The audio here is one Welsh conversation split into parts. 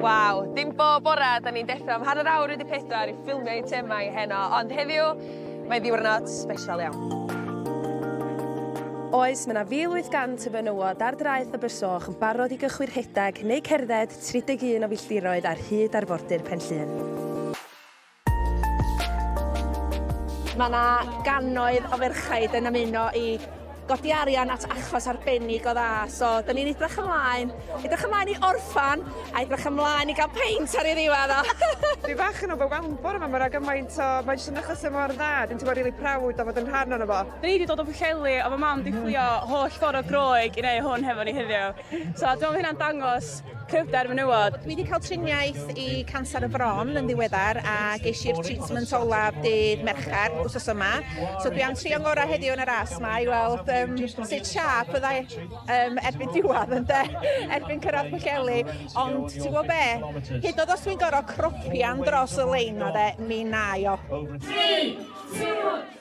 Waw, dim bob bora 'dan ni'n deffro am hanner awr wedi pedwar i ffilmio eitemau heno, ond heddiw mae ddiwrnod sbesial iawn. Oes, mae 'na 1,800 o fenywod ar draeth Abersoch yn barod i gychwyn rhedeg neu cerdded 31 o filltiroedd ar hyd arfordir Pen Llŷn. Mae yna gannoedd o ferchaid yn ymuno i godi arian at achos arbennig o dda, so da ni'n edrych ymlaen, edrych ymlaen i orffan a edrych ymlaen i gael peint ar ei ddiwedd o! Dwi bach yn overwhelmed bore ma, mae yna gymaint o... Mae jyst yn achos e mor dda, dwi'n teimlo rili proud o fod yn rhan ono fo. Da ni 'di dod o Pwllheli a mae mam 'di fflio holl ffordd o Groeg i neu hwn hefo ni heddiw. So, dwi'n meddwl hynna'n dangos cryfder menywod. Dwi wedi cael triniaeth i canser y fron yn ddiweddar a geis i'r treatment olaf dydd Mercher wrth yma. So dwi am trio'n gorau heddiw yn y ras ma i weld um, sut siap fyddai um, erbyn diwedd yn de, erbyn cyrraedd Pwllheli. Ond ti'n gwybod be, hyd oedd os dwi'n gorau cropian dros y lein o de, mi na i o. 3, 2,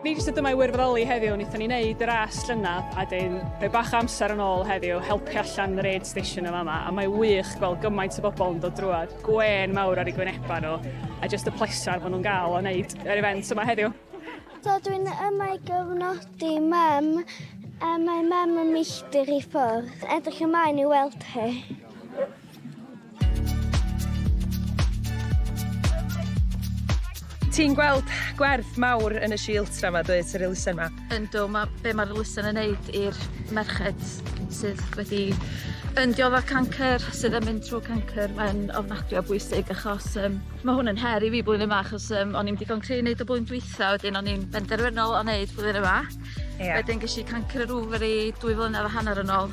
Ni jyst ydym mae wirfoddoli heddiw, wnaethon ni wneud y ras llynedd a dyn rhoi bach o amser yn ôl heddiw, helpu allan yr aid station yn fama, a mae wych gweld gymaint o bobl yn dod drwad, gwên mawr ar ei gwynebau nhw, a jyst y pleser maen nhw'n gael o wneud yr event yma heddiw. So dwi'n yma i gyfnodi mam, a mae mam yn milltir i ffwrdd. Edrych ymlaen i weld hi. Ti'n gweld gwerth mawr yn y sieltra 'ma dwyt, yr elusen 'ma? Yndw ma' be' ma'r elusen yn neud i'r merched sydd wedi yn diodde cancer sydd yn mynd trw cancer mae'n ofnadwy o bwysig achos yym ma' hwn yn her i fi blwyddyn 'ma achos yym o'n i'm digon cry' neud o blwyddyn dwitha wedyn o'n i'n benderfynol o neud blwyddyn yma. Ia. Wedyn gesh i cancer yr ofari dwy flynedd a hanner yn ôl.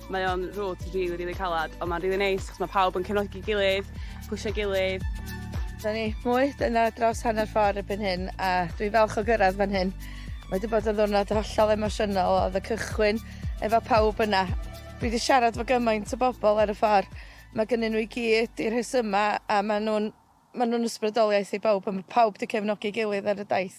Mae o'n route rili rili calad on' ma'n rili neis 'chos ma' pawb yn cefnogi gilydd pwshio'i gilydd. Dyna ni, mwy dyna dros hanner ffor erbyn hyn a dwi falch o gyrradd fan hyn. Mae 'di bod yn ddiwrnod hollol emosiynol o'dd y cychwyn efo pawb yna. Dwi 'di siarad 'fo gymaint o bobol ar y ffor ma' gynnyn n'w i gyd 'u rhesyma a ma' nw'n Maen nhw'n ysbrydoliaeth i bawb a mae pawb 'di cefnogi ei gilydd ar y daith.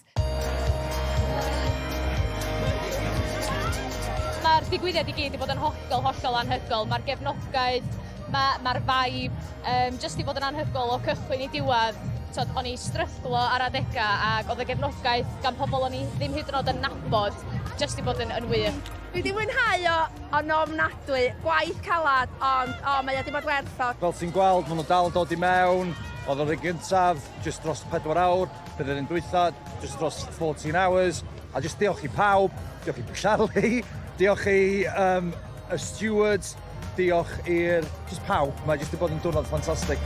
Mae'r digwyddiad i gyd 'di bod yn hollol, hollol anhygoel. Mae'r gefnogaeth, ma' ma'r vibe yym jyst 'di bod yn anhygoel o cychwyn i diwedd. T'od o'n i stryglo ar adega ac oedd y gefnogaeth gan pobl o'n i ddim hyd yn o'd yn nabod jyst 'di bod yn yn wych. Dwi 'di mwynhau o Yn ofnadwy! Gwaith calad, ond o, mae o 'di bod werth o. Fel ti'n gweld, maen nhw dal yn dod i mewn. Oedd yr un gyntaf, just dros 4 awr. Bydd yr un dwytha, just dros 14 hours. A just diolch i pawb, diolch i Pwllali, diolch i um, y stewards, diolch i'r... just pawb. Mae jyst wedi bod yn diwrnod ffantastig.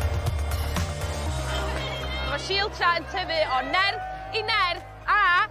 Mae Shield Tra yn tyfu o nerth i nerth a